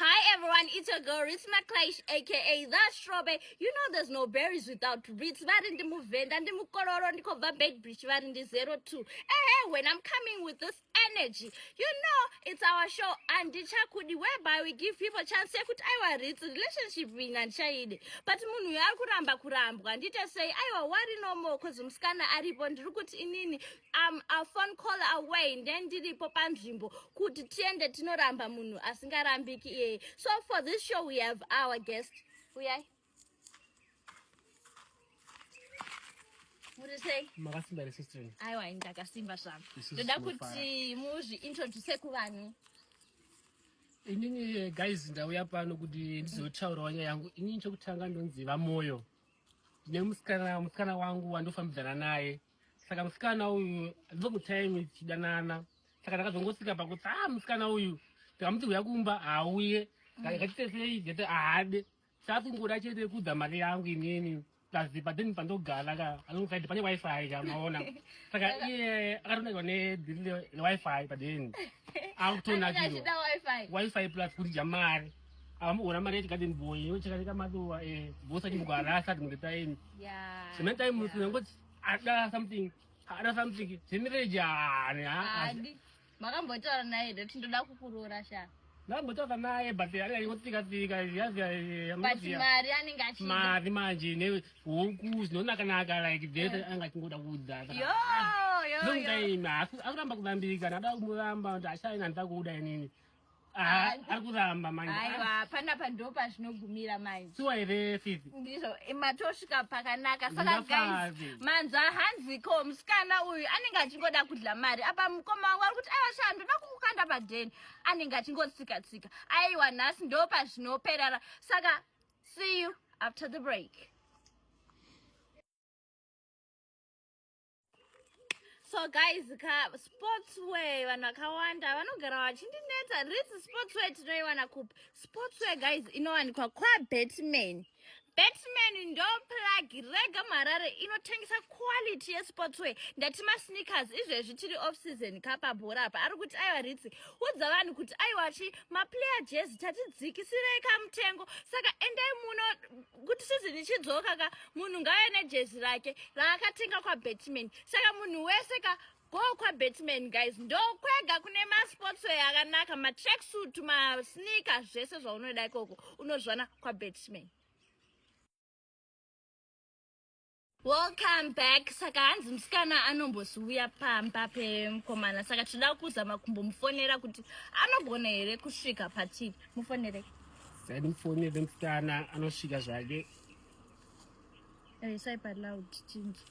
Hi everyone, it's your girl Ritz McClash aka The Strobe. You know there's no berries without Ritz. Vari ndi muvenda ndi mukororo ndikobva Beitbridge vari ndi 02. Ehe, when I'm coming with this energy. You know, it's our show and ndichakudi whereby we give people chance yekuti aiwa Ritz relationship ring andichaide. But munhu uyo ari kuramba kurambwa. Ndite sei aiwa wari no more cause musikana aripo ndiri kuti inini I'm a phone call away then ndiripo panzvimbo kuti tiende tinoramba munhu asingarambiki iyeye so for this show we have our guest uyai muri sei makasimba here sister aiwa ndakasimba zvangu ndoda kuti muzviintroduce kuvanhu inini guys ndauya pano kuti ndizotaurawo nyaya yangu inini chokutanga ndonzi vamoyo ndine musikana musikana wangu wandofambidzana naye saka musikana uyu ndokuchaimwe tichidanana saka ndakazongosika pakuti a ah, musikana uyu ndikamuti uya kumba hauye ngachitesei jete ahade sakungoda chete kudza mari yangu inini tazipa then pandogara ka alongside pane wifi ka maona saka iye akatonakiwa newifi padeni akutonakiwa wifi plus kudya mari amuona mari yechigadeni boy yochakatika maduwa e eh, bosa chimugara asati mungetaini semetaimungoti ada something ada something zvemireji haani haadi makambotaura naye ndoti ndoda kukuroora sha ndakambotaura naye but anenge achikotsika tsika but mari anenge achida mari manje nehuku zvinonakanaka like vese eh. anenge achingoda kuudza yoyoyoakuramba kuvambirika ndada kumuramba kuti achaina ndida kuuda inini Ah, ari kuramba manje aiwa panapa ndo pazvinogumira manje siwa here fifi ndizvo eh, matosvika pakanaka saka guys Ndafave. manzwa hanziko musikana uyu anenge achingoda kudya mari apa mukoma wangu ari kuti aiwa shaa ndoda kukukanda padheni anenge achingotsika tsika aiwa nhasi ndo pazvinoperara saka see you after the break so guys ka sportswear vanhu vakawanda vanogara vachindineta risi sportswear tinoiwana kupi sportswear guys inowanikwa kwabatman batman ndo plagi rega muharare inotengesa quality yesportswear ndati masneakers izvezvi tiri off season kapabhora apa ari kuti aiwa ritsi udza vanhu kuti aiwachi maplayer jezi tatidzikisirei kamutengo saka endai muno kuti season ichidzoka ka munhu ngauye nejezi rake raakatenga kwabatman saka munhu wese ka go kwabatman guys ndokwega kune masportsway akanaka matracksuit masneaker zvese zvaunoda ikoko unozvana kwabatman welcome back saka hanzi musikana anomboziuya pamba pemkomana saka tinoda kuzama kumbomufonera kuti anogona here kusvika patii mufonere sanimufonere musikana anosvika zvake isai paloud chinji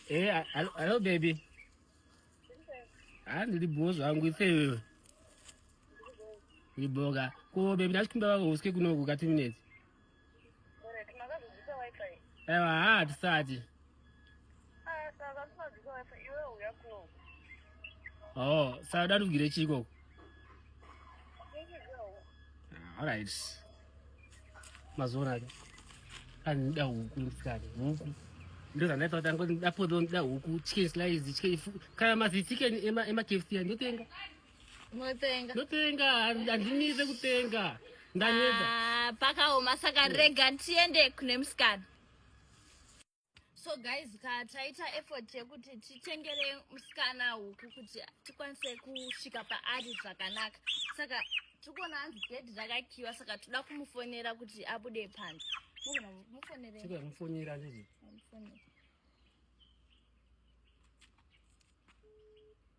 Hey, eh, hello, hello, baby. haa ndiri bhoo zvangu ife iwewe uri bhoo ka ko bebi ndachikumbira vako usike kunoku ka two minutes aiwa haa tisati o oh, saka dandigire chii ikoko ah, allright mazoona ake anida huku musikana huku ndozvandaita kuti angoti ndapodza ndida huku chicken slice chicken kana mazi chicken ema kfc andotenga motenga ndotenga handinise kutenga ndaneta ah, pakaoma saka rega tiende kune musikana so guys ka taita effort yekuti titengere musikana huku kuti tikwanise kusvika paari zvakanaka saka tikuona hanzi gedhi rakakiwa saka toda kumufonera kuti abude panze mufoneremufonera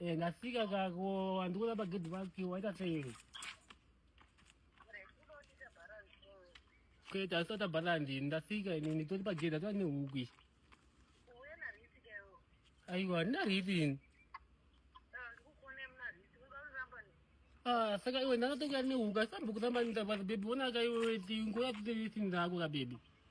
Eh, ndasvika kako andikuda pagedhi pake waita sei kwete asisata bharandi ndasvika ini nditori pagedhi atova nehuku ichi aiwa handina riti ini saka iwe ndakatokuya nehuku asisambokutamba nitavaza bebi onaka iwe ngoya kuti riti ndako kabebi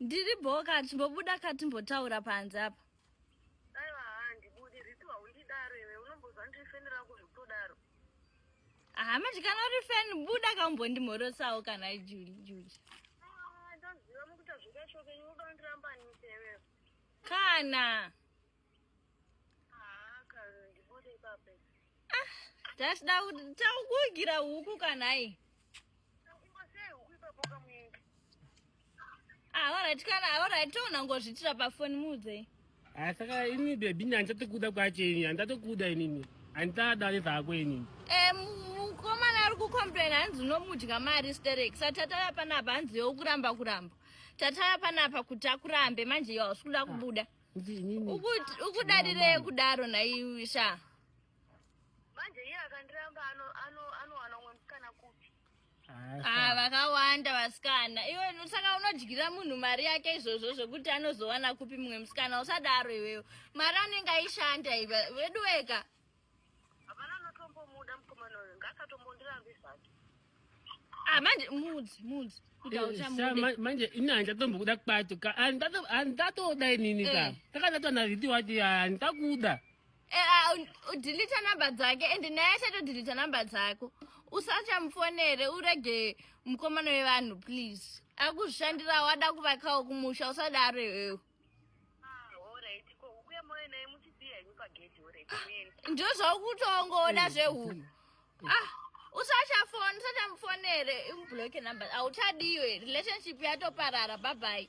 Ndiri boka timbobuda ka timbotaura panze apa. Aiwa handibudi riti waundidaro iwe unombozwa ndifenera kuzvitodaro. Aha manje kana uri fan buda ka umbondimhorosawo kana Juli Juli. Ah ndoziva mukuta zvikachoke unoda ndiramba nitewe. Kana. tachida takugira huku kanai aorit ah, kana aorit tounangozvitira pafoni muudze ah, saka ini bebi ini handichatikuda kwacho ini handatokuda inini handitadada nezvako inini eh, mukomana ari kucomplain hanzi unomudya mari sterek sa tataya panapa hanzi yokuramba kuramba tataya panapa kuti akurambe manje yawasikuda ah. kubuda ah. ukudarirei kudaro naiwe sha manje iye akandiramba anowana umwe musikana kupi ah, vakawanda vasikana iwe saka unodyira munhu mari yake izvozvo zvekuti anozowana kupi mumwe musikana usadaro iweyo mari anenge aishanda iva veduweka Hapana anotombomuda mukomana uyu ngaasatombondirambi zvake. Ah, manje mudzi mudzi kuti Eh, sa- hauchamude ma- manje ini handichatombokuda kwacho ka Handitato- handitatoda inini ka Eh. takatata nazviti wati handitakuda Eh, ah, un- udhilita namba dzake and naye achatodhilita namba dzako usachamufonere urege mukomana wevanhu please akushandira wada kuvakawo kumusha usadaro iwewe Ndizvo zvakutongoda mm, zvehuku. Mm, mm. Ah, usachafona, usachamufonere, imublock number. Auchadiwe, relationship yatoparara. Bye bye.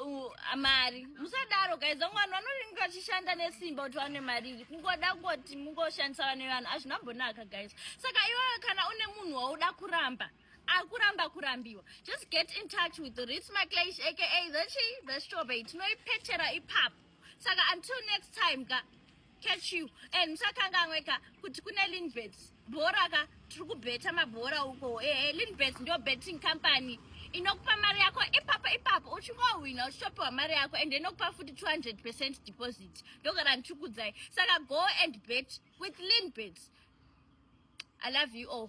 Uh, mari musadaro guys vamwe vanhu vanoringa vachishanda nesimba kuti vane mari iri kungoda kungoti mungoshandisa vane vanhu hazvina mbonaka guys saka iwewe kana une munhu wauda kuramba akuramba kurambiwa just get in touch with rits maclash aka the chi the strawberry tinoipetera ipapo saka until next time ka catch you and musakanganweka kuti kune linbet bhora ka tiri kubheta mabhora uko ehe eh, linbet ndo betting company inokupa mari yako ipapo ipapo uchingohwina uchitopiwa mari yako and inokupa futi 200 percent deposit ndogara ndichikudzai saka go and bet with linbet i love you all